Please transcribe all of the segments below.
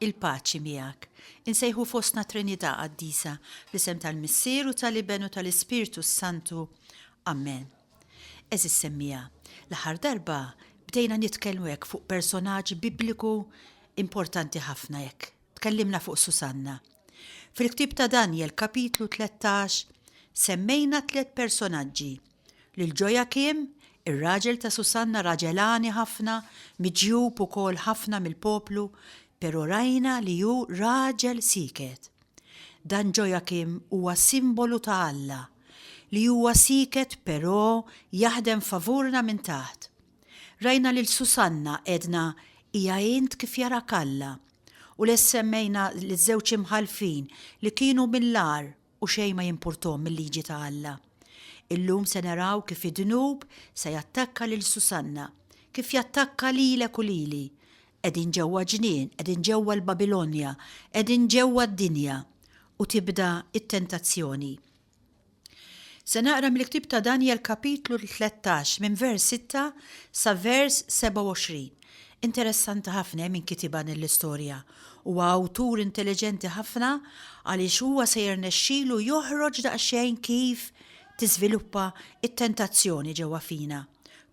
Il-paċi miegħek. Insejħu fostna Trinità Qaddisa, fl-isem tal-Missier u tal-Iben u tal-Ispirtu s-Santu. Amen. Għeżież semmiegħa, l-aħħar darba bdejna nitkellmu hekk fuq personaġġ Bibliku importanti ħafna hekk, tkellimna fuq Susanna. Fil-ktieb ta' Danjel, kapitlu tlettax, semmejna tliet personaġġi Lil Ġojakim, ir-raġel ta' Susanna raġel għani ħafna, miġjub ukoll ħafna mill-poplu, pero' rajna li hu raġel sieket. Dan Ġojakim huwa simbolu ta' Alla, li huwa sieket pero' jaħdem favurna minn taħt. Rajna lil Susanna għedna hija int kif jarak Alla, u les semmejna liż-żewġ imħallfin li kienu mill-agħar, u xejn ma jimpurthom mil-liġi ta' Alla. Illum se naraw kif id-dnub se jattakka lil Susanna, kif jattakka lilek u lili. Qegħdin ġewwa ġnien, qegħdin ġewwa l-Babilonja, qegħdin ġewwa d-dinja. U tibda t-tentazzjoni. Se naqra mill-ktieb ta' Danjel kapitlu tlettax minn vers sitta sa vers sebgħa u għoxrin. Interessanti ħafna min kitibha din l-istorja. Huwa awtur intelliġenti ħafna għaliex huwa se jirnexxilu joħroġ daqsxejn kif tiżviluppa t-tentazzjoni ġewwa fina.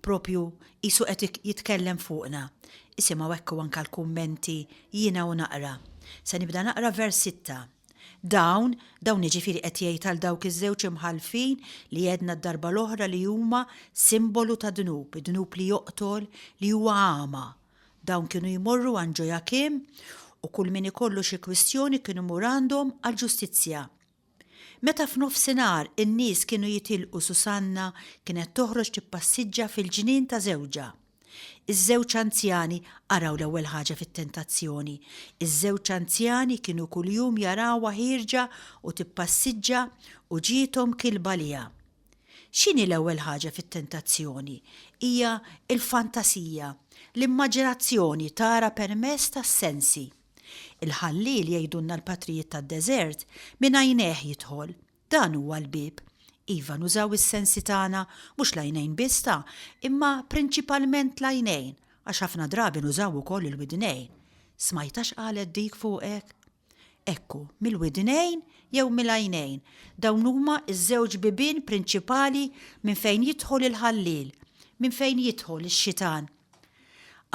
Propju qisu qed jitkellem fuqna. Isimgħu hekk u anke l-kummenti jiena u naqra. Se nibda naqra vers sitta. Dawn, dawn jiġifieri qed jgħid għal dawk iż-żewġ imħallfin li għedna d-darba l-oħra li huma simbolu ta' dnub, id-dnub li joqtol, li huwa għama. Dawn kienu jmorru għand Ġojakim u kull min ikollu xi kwistjoni kien imur għandhom għall-ġustizzja. Meta f'nofsinhar in-nies kienu jitilqu Susanna kienet toħroġ tippassiġġa fil-ġnien ta' żewġha. Iż-żewġ anzjani qaraw l-ewwel ħaġa fit-tentazzjoni. Iż-żewġ anzjani kienu kuljum jarawha ħierġa u tippassiġġa u ġiethom kilba għaliha. X'inhi l-ewwel ħaġa fit-tentazzjoni? Hija l-fantasija, l-immaġinazzjoni tara permess tas-sensi. Il-ħalliel, jgħidulna l-patrijiet tad-deżert, minn għajnejh jidħol, Dan huwa l-bieb. Iva, nużaw is-sensi tagħna, mhux l-għajnejn biss ta', imma prinċipalment l-għajnejn, għax ħafna drabi nużaw ukoll il-widnejn. Smajtha x'qalet dik fuqek? Ekku, mill-widnejn jew mill-għajnejn, dawn huma ż-żewġ bibien prinċipali minn fejn jidħol il-ħalliel, minn fejn jidħol ix-xitan.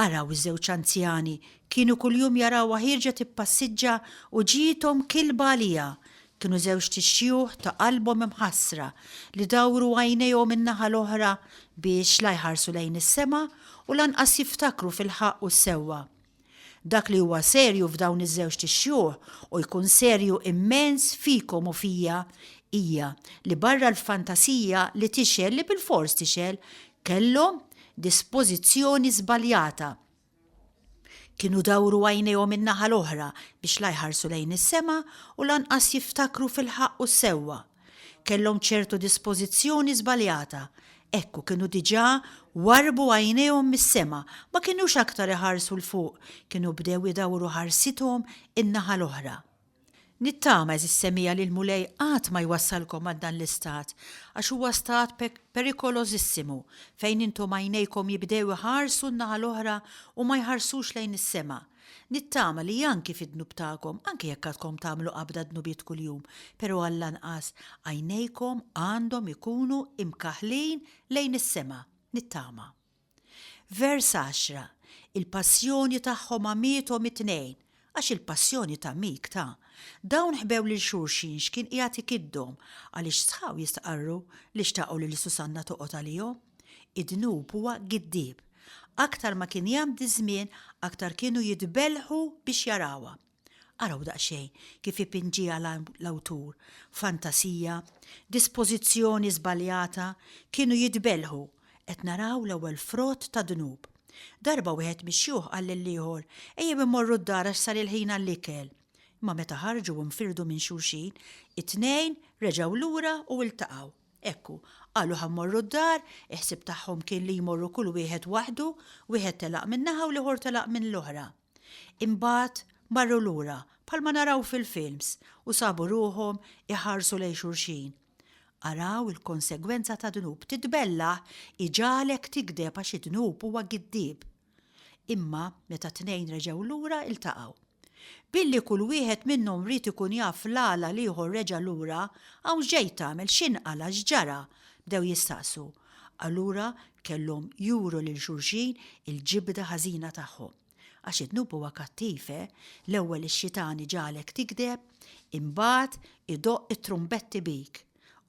Araw iż-żewġ anzjani, kienu kuljum jarawha ħierġa tippassiġġa u ġiethom kilba għaliha. Kienu żewġt ixxjuħ ta' qalbhom imħassra li dawru għajnejhom in-naħa l-oħra biex la jħarsu lejn is-sema u lanqas jiftakru fil-ħaqq u s-sewwa. Dak li huwa serju f'dawn iż-żewġt ixxuħ, u jkun serju immens fikom u fija, hija li barra l-fantasija li tixgħel, li bilfors tixgħel, kellhom dispożizzjoni żbaljata. Kienu dawru għajnejhom in-naħa l-oħra biex la jħarsu lejn is-sema u lanqas jiftakru fil-ħaqq u s-sewwa. Kellhom ċertu dispożizzjoni żbaljata. Hekk u kienu diġà warrbu għajnejhom mis-sema, ma kinux aktar iħarsu 'l fuq, kienu bdew idawru ħarsithom in-naħa l-oħra. Nittama, għeżież semija, li l-Mulej qatt ma jwassalkom għand dan l-istat, għax huwa stat perikolożissimu, fejn intom għajnejkom jibdew iħarsu n-naħa l-oħra u ma jħarsux lejn is-sema. Nittama li anki fid-dnub tagħkom, anki jekk għadkom tagħmlu qabda dnubiet kuljum, però għall-anqas għajnejkom għandhom ikunu imkaħħlin lejn is-sema. Nittama. Vers 10, Il-passjoni tagħhom għamiethom it-tnejn, għax il-passjoni ta' mik ta'. Dawn ħbew lil xulxin x'kien qiegħed ikiddhom, għaliex sħaw jistqarru li xtaqu li l-Susanna toqgħod għalihom. Id-dnub huwa giddieb. Aktar ma kien jgħaddi ż-żmien, aktar kienu jitbellħu biex jarawha. Araw daqsxejn kif ipinġiha l-awtur, fantasija, dispożizzjoni żbaljata, kienu jitbellħu, qed naraw l-ewwel frott ta' dnub. Darba wieħed mix-xjuħ qal lill-ieħor, Ejjew immorru d-dar għax sar il-ħin għall-ikel. Imma meta ħarġu u nfirdu minn xulxin, it-tnejn reġgħu lura u ltaqgħu. Hekk hu. Qalu ħa mmorru d-dar, il-ħsieb tagħhom kien li jmorru kull wieħed waħdu, wieħed telaq minn naħa u l-ieħor telaq minn l-oħra. Imbagħad marru lura, bħalma naraw fil-films, u sabu ruħhom iħarsu lejn xulxin. Araw il-konsegwenza tad-dnub, titbellaħ iġagħlek tigdeb għax id-dnub huwa giddieb. Imma meta t-tnejn reġgħu lura iltaqgħu. Billi kull wieħed minnhom ried ikun jaf l-għala l-ieħor reġa' lura, hawn x'ġej tagħmel, x'inqala', x'ġara? bdew jistaqsu. Allura kellhom juru lil xulxin il-ġibda ħażina tagħhom. Għax id-dnub huwa kattiv, eh! L-ewwel ix-xitan iġagħlek tigdeb, imbagħad idoqq it-trumbetti bik.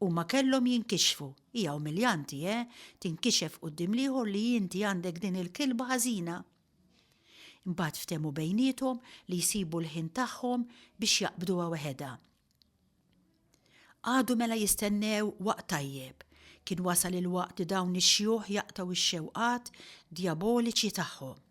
Huma kellhom jinkixfu. Hija umiljanti, eh, tinkixef quddiem l-ieħor li inti għandek din il-kilba ħażina. Imbagħad ftehmu bejniethom li jsibu l-ħin tagħhom biex jaqbduha weħedha. Għadu mela jistennew waqt tajjeb. Kien wasal il-waqt li dawn ix-xjuħ jaqtaw ix-xewqat djaboliċi tagħhom.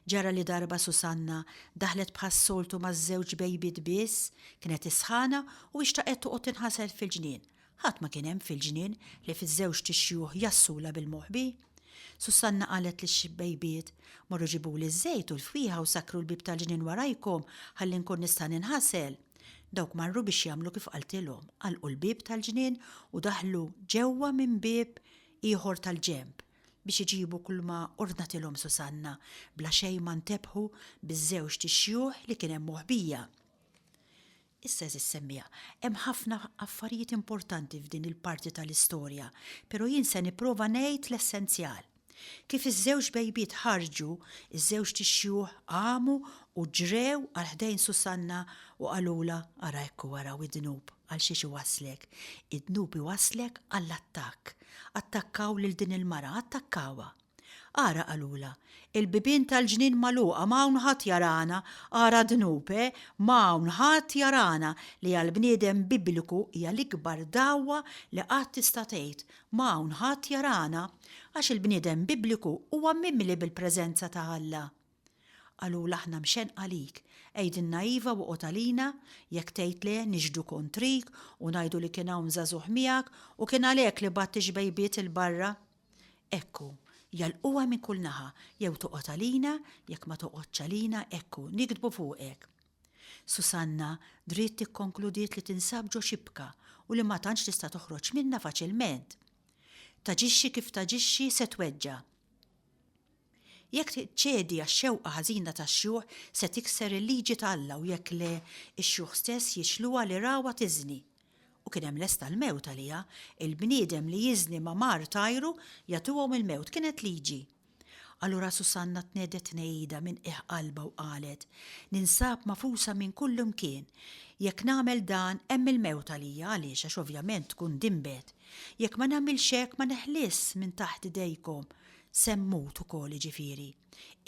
Ġara li darba Susanna daħlet bħas-soltu ma' żewġ bejbiet biss, kienet isħana u ixtaqet toqgħod tinħasel fil-ġnien. Ħadd ma kien hemm fil-ġnien li fiż-żewġt ixjuħ jgħassulha bil-moħbi. Susanna qalet lix-bejbiet, Morru ġibuli ż-żejt u l-fwieħa u sakkru l-bieb tal-ġnien warajkom ħalli nkun nista' ninħasel. Dawk marru biex jagħmlu kif qaltilhom, għalqu l-bieb tal-ġnien u daħlu ġewwa minn bieb ieħor tal-ġenb. biex iġibu kulma ordnatilhom Susanna, bla xejn ma ntebħu biż-żewġt ixjuħ li kien hemm moħbija. Issa eżis semmija, hemm ħafna affarijiet importanti f'din il-parti tal-istorja, pero jien se nipprova ngħid l-essenzjal. Kif iż-żewġ bejbiet ħarġu, iż-żewġt ixjuħ qamu u ġrew għal ħdejn Susanna u qalulha ara ekku ara u id-dnub. Għal xiex iwasslek? Id-dnub iwasslek għall-attakk. Attakkaw lil din il-mara, attakkawha. Ara qalulha, Il-bibien tal-ġnien magħluqa, ma hawn ħadd jarana, ara dnub, eh, ma hawn ħadd jarana li għall-bniedem Bibliku hija l-ikbar dagħwa li qatt tista' tgħid, ma hawn ħadd jarana. Għax il-bniedem Bibliku huwa mimli bil-preżenza ta' Alla. Qalulha aħna mxennqa lik. Għidilna iva u oqgħod għalina, jekk tgħid le niġhdu kontrik u ngħidu li kien hawn żagħżugħ miegħek u kien għalhekk li bgħadt ix-xbejbiet 'il barra. Hekk hu. Jagħlquha minn kull naħa, jew toqgħod għalina, jekk ma toqgħodx għalina, hekk hu, nigdbu fuqek. Susanna dritt ikkonkludiet li tinsab ġo xibka u li ma tantx tista' toħroġ minnha faċilment. Taġixxi kif taġixxi se tweġġa'. Jekk tiċċedi għax-xewqa ħażina tax-xjuħ, se tikser il-liġi ta' Alla u jekk le, ix-xjuħ stess jixluha li rawha tiżni. U kien hemm lesta l-mewt għaliha, il-bniedem li jiżni ma' mar tajru jagħtuhom il-mewt, kienet liġi. Allura Susanna tnegħdet tnegħida minn qiegħ qalbha u qalet, Ninsab magħfusa minn kullimkien. Jekk nagħmel dan, hemm il-mewt għalija, għaliex għax ovvjament tkun dinbet. Jekk ma nagħmilx hekk ma neħlisx minn taħt idejkom. Semmut ukoll jiġifieri.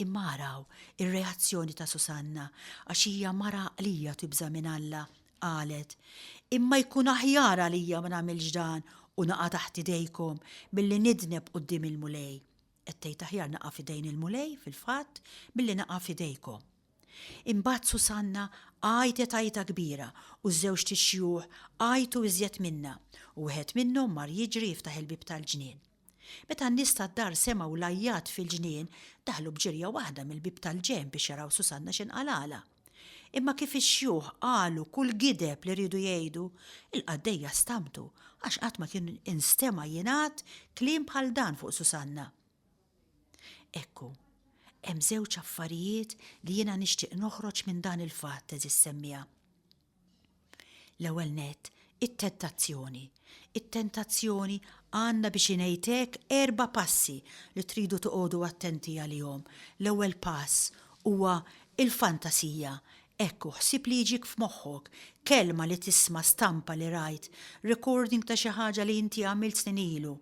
Imma araw ir-reazzjoni ta' Susanna għax hija mara għaqlija u tibża' minn Alla. Qalet, Imma jkun aħjar għalija ma nagħmilx dan u naqa' taħt idejkom milli nidneb quddiem il-Mulej. Qed tgħid aħjar naqa' f'idejn il-Mulej, fil-fatt, milli naqa' f'idejkom. Imbagħad Susanna għajtet għajta kbira u ż-żewġt ixxjuħ għajtu iżjed minnha u wieħed minnhom mar jiġri jiftaħ il-bieb tal-ġnien. Meta n-nies tad-dar semgħu l-għajjat fil-ġnien, daħlu b'ġirja waħda mill-bieb tal-ġenb biex jaraw Susanna x'inqalagħla. Imma kif ix-xjuħ qalu kull gideb li riedu jgħidu, il-qaddejja stamtu għax qatt ma kien instema' jingħad kliem bħal dan fuq Susanna. Ekku, hemm żewġ affarijiet li jiena nixtieq noħroġ minn dan il-fatt, għeżież semmiegħa. L-ewwel nett, it-tentazzjoni. It-tentazzjoni għandna biex ingħid hekk erba' passi li tridu toqogħdu attenti għalihom. L-ewwel pass huwa l-fantasija. Hekk hu, ħsieb li jiġik f'moħħok, kelma li tisma', stampa li rajt, recording ta' xi ħaġa li inti għamilt snin ilu.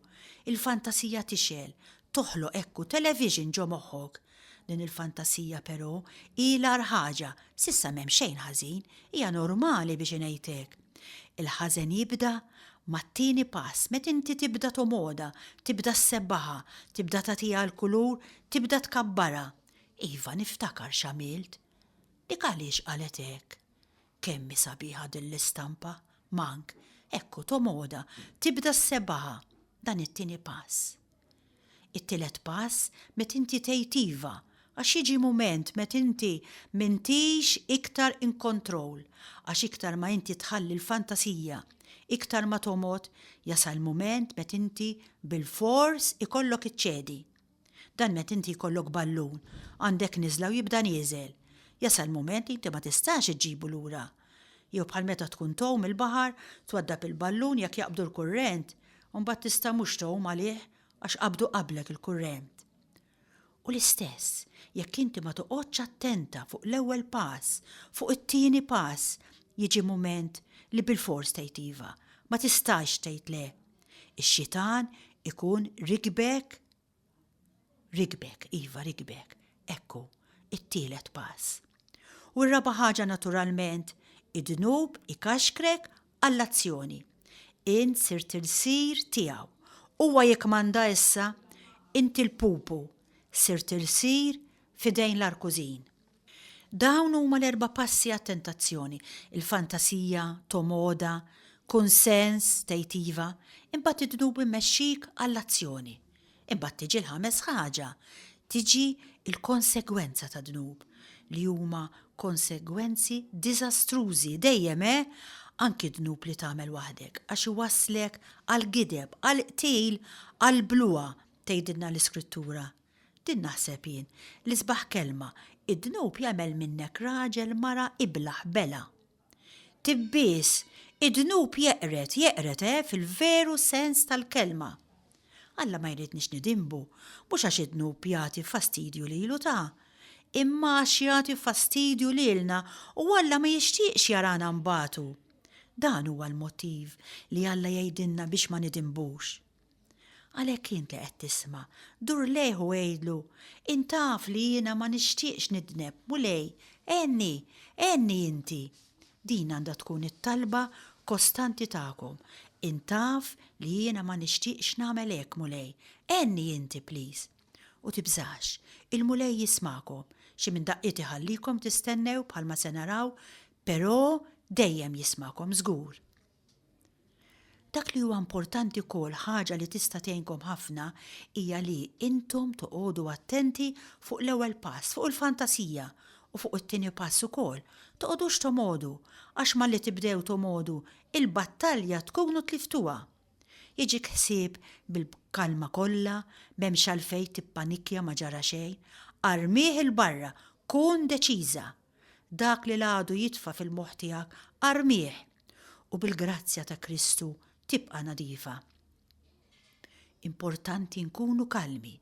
Il-fantasija tixgħel, toħloq hekk hu television ġo moħħok. Din il-fantasija però hi l-agħar ħaġa, s'issa m'hemm xejn ħażin, hija normali biex ingħid hekk. Il-ħażen jibda mat-tieni pass, meta inti tibda tomodha, tibda ssebbaħha, tibda tagħtiha l-kulur, tibda tkabbarha. Iva, niftakar x'għamilt. Dik għaliex qalet hekk? Kemm hi sabiħa din l-istampa, Mank, hekk hu Tomoda, tibda ssebbaha, dan it-tieni pass. It-tielet pass met inti tgħid iva, għax jiġi mument met inti m'intix iktar in control, għax iktar ma inti tħalli l-fantasija, iktar ma tomgħod, jasal mument met inti bilfors ikollok iċċedi. Dan meta inti jkollok ballun, għandek niżla u jibda nieżel. Jasal mument li inti ma tistax iġġibu lura. Jew bħal meta tkun tgħum il-baħar, twaddab il-ballun jekk jaqbdu l-kurrent, u mbagħad tista' mhux tgħum għalih għax qabdu qablek il-kurrent. U l-istess, jekk inti ma toqgħodx attenta fuq l-ewwel pass, fuq it-tieni pass, jiġi mument li bilfors tgħid iva, ma tistax tgħid le. Ix-xitan ikun rikbek, rikbek, iva rikbek, ekku, it-tielet pass. U r-raba' ħaġa naturalment, id-dnub ikaxkrek għall-azzjoni. Int sirt il-sir tiegħu. Huwa jikkmanda issa, inti l-pupu, sirt il-sir f'idejn l-arkużin. Dawn huma l-erba' passi għat-tentazzjoni, il-fantasija, tomoda, kunsens, tgħid iva, imbagħad id-dnub immexxik għall-azzjoni. Imbagħad tiġi l-ħames ħaġa, tiġi l-konsegwenza tad-dnub, li huma konsegwenzi diżastrużi dejjem he, anki dnub li tagħmel waħdek, għax iwasslek għall-gideb, għall-qtil, għall-bluha, tgħidilna l-Iskrittura, Din naħseb jien, l-isbaħ kelma, id-dnub jagħmel minnek raġel, mara, iblah, bela. Tibbies, id-dnub jeqred, jeqred, eh, fil-veru sens tal-kelma. Alla ma jridniex nidinbu, mhux għax id-dnub jagħti fastidju lilu ta' imma għax jagħti fastidju lilna u Alla ma jixtieqx jarana nbatu. Dan huwa l-mottiv li Alla jgħidilna biex ma nidinbux. Għalhekk int li qed tisma', dur lejh u għidlu, Int taf li jiena ma nixtieqx nidneb, Mulej, għenni, għenni inti. Din għandha tkun it-talba kostanti tagħkom, Int taf li jiena ma nixtieqx nagħmel hekk, Mulej, għenni inti, pliż. U tibżax, il-Mulej jismagħkom. Xi minn daqqiet iħallikom tistennew bħalma se naraw, però dejjem jismagħkom żgur. Dak li huwa importanti wkoll, ħaġa li tista' tgħinkom ħafna, hija li intom toqgħodu attenti fuq l-ewwel pass, fuq il-fantasija, u fuq it-tieni pass ukoll. Toqgħodux tomgħodu, għax malli tibdew tomgħodu, il-battalja tkunu tliftuha. Jiġik ħsieb bil-kalma kollha, m'hemmx għalfejn tippanikkja ma ġara xejn. Armih 'il barra, kun deċiża! Dak li l-għadu jitfa' fil-moħħ tiegħek, armih, u bil-grazzja ta' Kristu tibqa' nadifa. Importanti nkunu kalmi,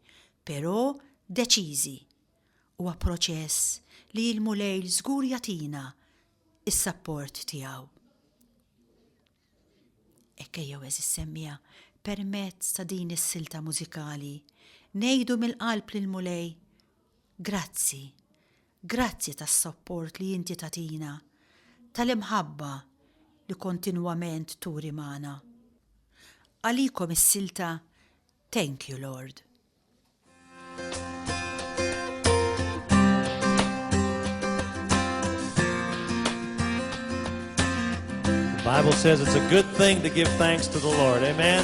però deċiżi. Huwa proċess li il-Mulej żgur jagħtina is-sapport tiegħu. Ekkejja eżis semmija permezz ta' din is-silta mużikali ngħidu mill-qalb lil Mulej Grazzi Grazzi tas-sapport li inti tagħtina, tal-imħabba li kontinwament turi magħna. Għalikom is-silta Thank You Lord. The Bible says it's a good thing to give thanks to the Lord. Amen.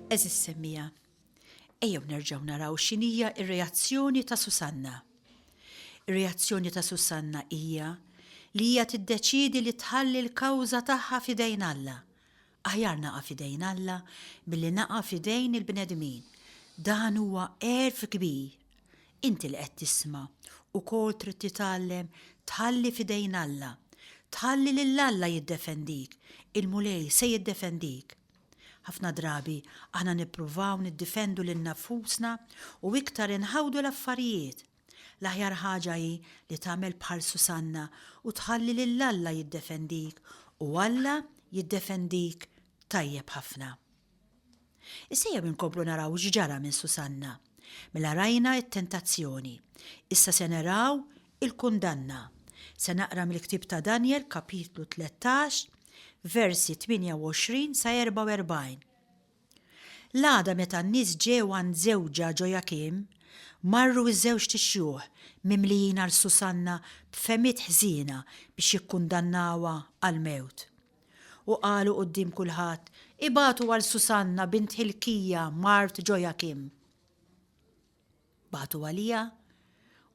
Għeżież semmiegħa, ejjew nerġgħu naraw x'inhija r-reazzjoni ta' Susanna. Ir-reazzjoni ta' Susanna hija li hija tiddeċiedi li tħalli l-kawża tagħha f'idejn Alla. Aħjar naqa' f'idejn Alla milli naqa' f'idejn il-bnedmin. Dan huwa għerf kbir. Inti li qed tisma' ukoll trid titgħallem tħalli f'idejn Alla. Tħalli lil Alla jiddefendik. Il-Mulej se jiddefendik. Ħafna drabi aħna nippruvaw niddifendu lil nafusna u iktar inħawdu l-affarijiet. L-aħjar ħaġa hi li tagħmel bħal Susanna u tħalli lil Alla jiddefendik u Alla jiddefendik tajjeb ħafna. Issa jew inkomplu naraw x'ġara minn Susanna. Mela rajna it-tentazzjoni. Issa se naraw il-kundanna. Se naqra mill-ktieb ta' Danjel, kapitlu 13, versi 28 sa 44. L-għada meta n-nies ġew għand żewġha Ġojakim, marru ż-żewġt ixjuħ mimlijin għal Susanna b'fehmiet ħżiena biex jikkundannawha għall-mewt. U qalu quddiem kulħadd, Ibagħtu għal Susanna bint Ħilkija, mart Ġojakim. Bagħtu għaliha,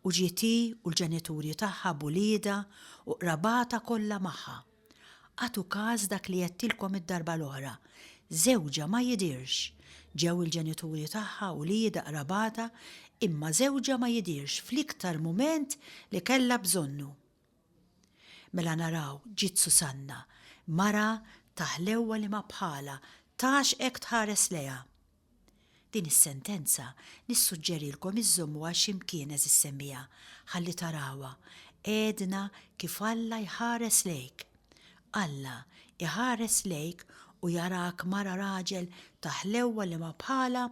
u ġiet hi u l-ġenituri tagħha b'uliedha u qrabatha kollha magħha. Agħtu każ dak li għedtilkom id-darba l-oħra, żewġha ma jidhirx. Ġew il-ġenituri tagħha, uliedha, qrabatha, imma żewġha ma jidhirx fl-iktar mument li kellha bżonnu. Mela naraw, ġiet Susanna, mara ta' ħlewwa li ma bħalha, tax hekk tħares lejha! Din is-sentenza nissuġġerilkom iżżommuha xi mkien għeżież semmiegħa, ħalli tarawha, għedna kif Alla jħares lejk. Alla jħares lejk u jarak mara raġel ta' ħlewwa li ma bħalha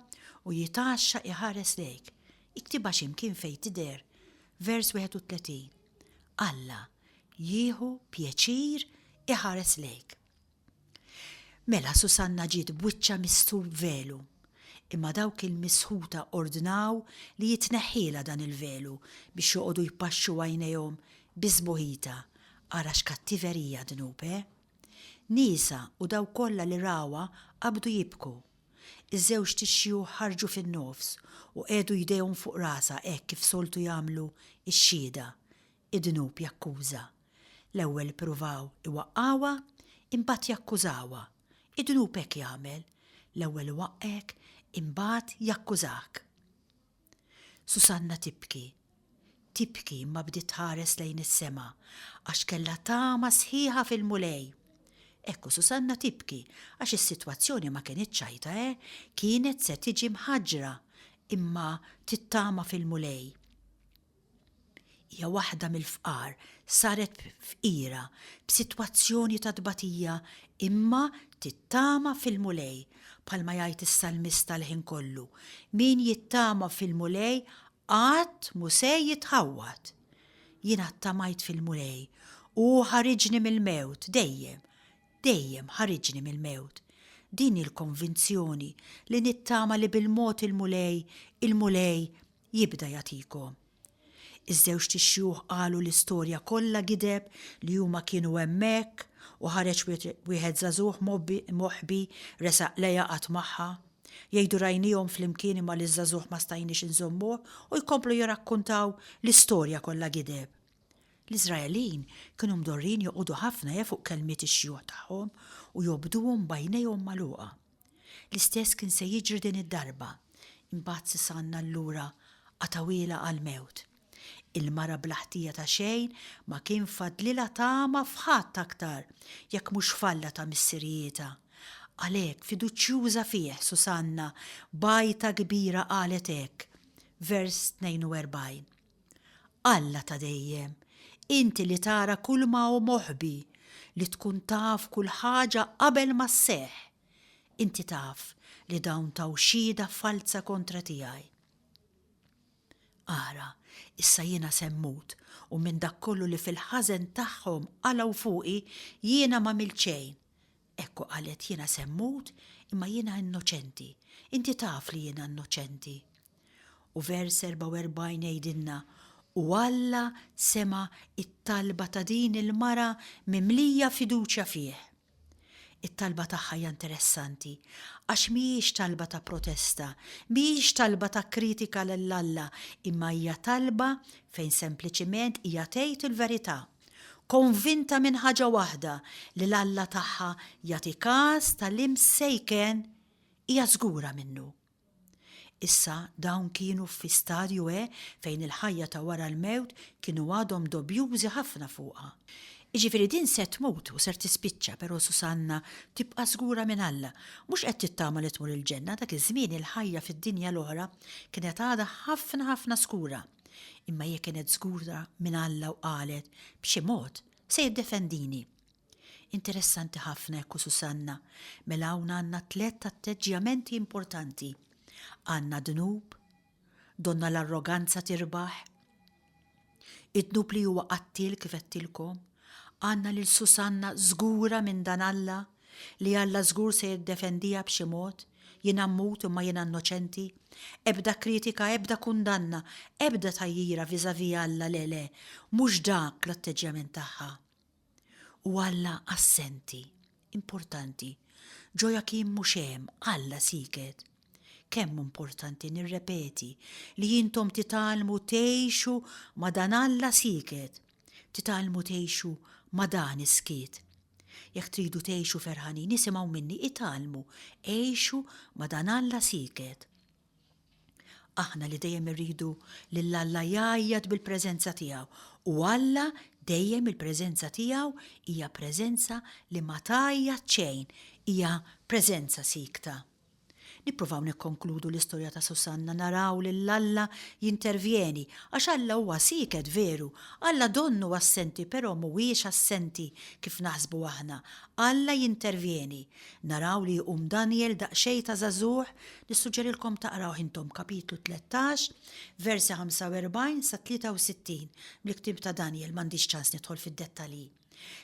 u jitgħaxxaq iħares lejk. Iktibha xi mkien fejn tidher, vers 31, Alla jieħu pjaċir iħares lejk. Mela Susanna ġiet b'wiċċha mistħub b'velu, imma dawk il-misħuta ordnaw li jitneħħielha dan il-velu biex joqogħdu jpaxxu għajnejhom bi sbuħitha, ara x'kattiverija dnub, eh? Niesha u dawk kollha li rawha qabdu jibku. Iż-żewġt ix-xjuħ ħarġu fin-nofs u qiegħdu jdejhom fuq rasha hekk kif soltu jagħmlu x-xhieda, id-dnub jakkuża. L-ewwel ippruvaw iwaqqgħuha, imbagħad jakkużawha. Id-dnub hekk jagħmel, l-ewwel iwaqqgħek, imbagħad jakkużak. Susanna tibki. Tibki imma bdiet tħares lejn is-sema għax kellha tama sħiħa fil-Mulej. Hekk u Susanna tibki għax is-sitwazzjoni ma kenitx għajta eh, kienet se tiġi mħaġġra imma tittama fil-Mulej. hija waħda mill-fqar, saret fqira b'sitwazzjoni ta' tbatija imma tittama fil-Mulej, bħalma jgħid is-salmista l-ħin kollu, Min jittama fil-Mulej qatt mhu se jitħawwad. Jiena ttamajt fil-Mulej u hu ħariġni mill-mewt dejjem, dejjem ħariġni mill-mewt. Din hi l-konvinzjoni li nittama li bil-mod il-Mulej, il-Mulej jibda jagħtikom. Iż-żewġt tixjugħ qalu l-istorja kollha gideb li huma kienu hemmhekk u ħareġ wieħed żagħżugħ moħbi resaq lejha qatt magħha. Jgħidu rajniehom flimkien imma liż-żagħżugħ ma stajniex inżommuh u jkomplu jirrakkuntaw l-istorja kollha gideb. L-Iżraelin kienu mdorrin joqogħdu ħafna ja fuq kelmiet ix-xjuħ tagħhom u jobduhom b'għajnejhom magħluqa. L-istess kien se jiġri din id-darba. Imbagħad Sisanna allura qatgħuhielha għall-mewt. Il-mara bla ħtija ta' xejn ma kien fadlilha tama f'ħadd aktar jekk mhux f'Alla ta' missirijietha. Għalhekk, fiduċjuża fih, Susanna b'għajta kbira qalet hekk, vers 42. Alla ta' dejjem, inti li tara kulma hu moħbi, li tkun taf kull ħaġa qabel ma sseħħ, inti taf li dawn taw xhieda falza kontra tiegħi. Ara, issa jiena se mmut, u minn dak kollu li fil-ħażen tagħhom qalgħu fuqi, jiena m'għamilt xejn. Hekk hu qalet, jiena se mmut, imma jiena innoċenti. Inti taf li jiena innoċenti. U vers 44 jgħidilna, U Alla sema' t-talba ta' din il-mara mimlija fiduċja fih. It-talba tagħha hija interessanti, għax mhijiex talba ta' protesta, mhijiex talba ta' kritika lil Alla, imma hija talba fejn sempliċiment hija tgħid il-verità, konvinta minn ħaġa waħda, li l-Alla tagħha jagħti kas tal-imsejken hija żgura minnu. Issa dawn kienu fi stadju e fejn il-ħajja ta' wara l-mewt kienu għadhom dobjużi ħafna fuqha. Iġifieri din se tmut u ser tispiċċa però Susanna tibqa' żgura minn Alla. Mhux qed tittama li tmur il-ġenna, dak iż-żmien il-ħajja fid-dinja l-oħra kienet għadha ħafna ħafna skura. Imma hija kienet żgura minn Alla u qalet, B'xi mod, se jiddefendini. Interessanti ħafna hekk u Susanna, mela hawn għandna tlett atteġġjamenti importanti. Għandna dnub, donna l-arroganza tirbaħ, id-dnub li huwa qattiel kif għedtilkom, għandna lil Susanna żgura minn dan Alla li Alla żgur se jiddefendiha b'xi mod, jien ammut imma jiena innoċenti, ebda kritika, ebda kundanna, ebda tgħajjira vis-à-vis Alla le le, mhux dak l-atteġġjament tagħha. u Alla assenti, importanti, Joachim mhux hemm, Alla sieket. Kemm hu importanti nirrepeti li intom titgħallmu tgħixu ma' dan Alla sieket, titgħallmu tgħixu ma' dan is-skiet. Jekk tridu tgħixu ferħanin isimgħu minni itgħallmu għixu ma' dan Alla sieket. Aħna li dejjem irridu lil Alla jgħajjat bil-preżenza tiegħu, u Alla dejjem il-preżenza tiegħu hija preżenza li ma tgħajjat xejn, hija preżenza siekta. Nippruvaw nikkonkludu l-istorja ta' Susanna naraw lil Alla jintervjeni, għax Alla huwa sieket veru, Alla donnu assenti però mhuwiex assenti kif naħsbu aħna, Alla jintervjeni, Naraw li jqum Danjel daqsxejn ta' żagħżugħ, nissuġġerilkom taqrawh intom kapitlu tlettax, versi 45 sa 63 mill-ktieb ta' Danjel, m'għandix ċans nidħol fid-dettalji.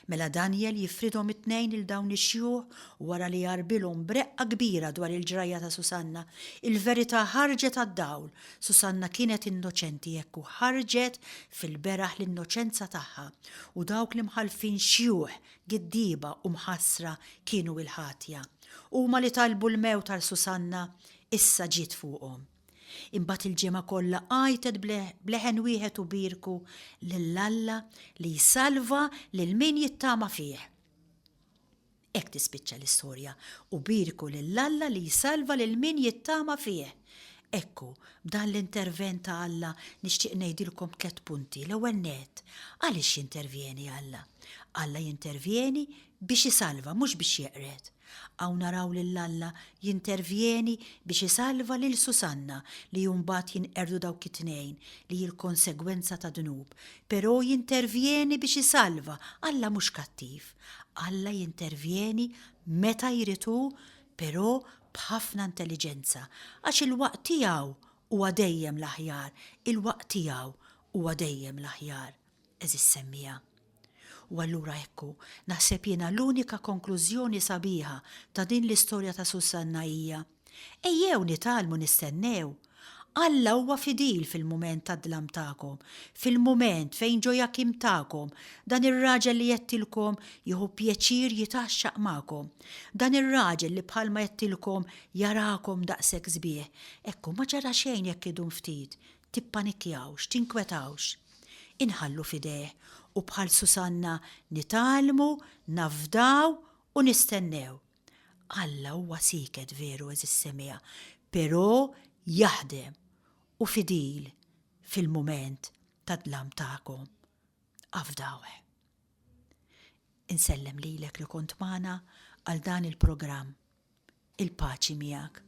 Mela Danjel jifridhom it-tnejn lil dawn ix-xjuħ u wara li jgħarbilhom b'reqqa kbira dwar il-ġrajja ta' Susanna, il-verità ħarġet għad-dawl, Susanna kienet innoċenti hekk u ħarġet fil-beraħ l-innoċenza tagħha u dawk l-imħallfin xjuħ Giddieba u mħassra kienu il-ħatja. Huma li talbu l-mewt għal Susanna, issa ġiet fuqhom. Imbagħad il-ġemgħa kollha għajtet b'leħen wieħed u bierku lil Alla li jsalva lil min jittama fih. Hekk tispiċċa l-istorja u bierku lil Alla li jsalva lil min jittama fih. Ekku, b'dan l-intervent ta' Alla nixtieq ngħidilkom tliet punti. L-ewwel nett, għaliex jintervjeni Alla? Alla jintervjeni biex isalva, mhux biex jeqred. Hawn naraw lil Alla jintervjeni biex isalva lil Susanna li mbagħad jinqerdu dawk it-tnejn li hi l-konsegwenza ta' dnub. Però jintervjeni biex isalva, Alla mhux kattiv. Alla jintervjeni meta jrid hu però b'ħafna intelliġenza, għax il-waqt tiegħu huwa dejjem l-aħjar, il-waqt tiegħu huwa dejjem l-aħjar, għeżież semmiegħa. U allura hekk hu, naħseb jiena l-unika konklużjoni sabiħa ta' din l-istorja ta' Sussanna hija, ejjew nitgħallmu nistennew, Alla huwa fidil fil-mument tad-dlam tagħkom, fil-mument fejn ġo jakim tagħkom, dan ir-raġel li għedtilkom jieħu pjaċir jitgħaxxaq magħkom, dan ir-raġel li bħalma għedtilkom jarakom daqshekk sbieħ, hekk hu ma ġara xejn jekk idum ftit, tippanikkjawx, tinkwetawx. Inħallu f'idejh u bħal Susanna nitgħallmu, nafdaw u nistennew. Alla huwa sieket veru għeżiż Semija, però jaħdem u fidil fil-mument tad-dlam tagħkom. Afdawh. Insellem lilek li kont magħna għal dan il-programm. Il-paċi miegħek.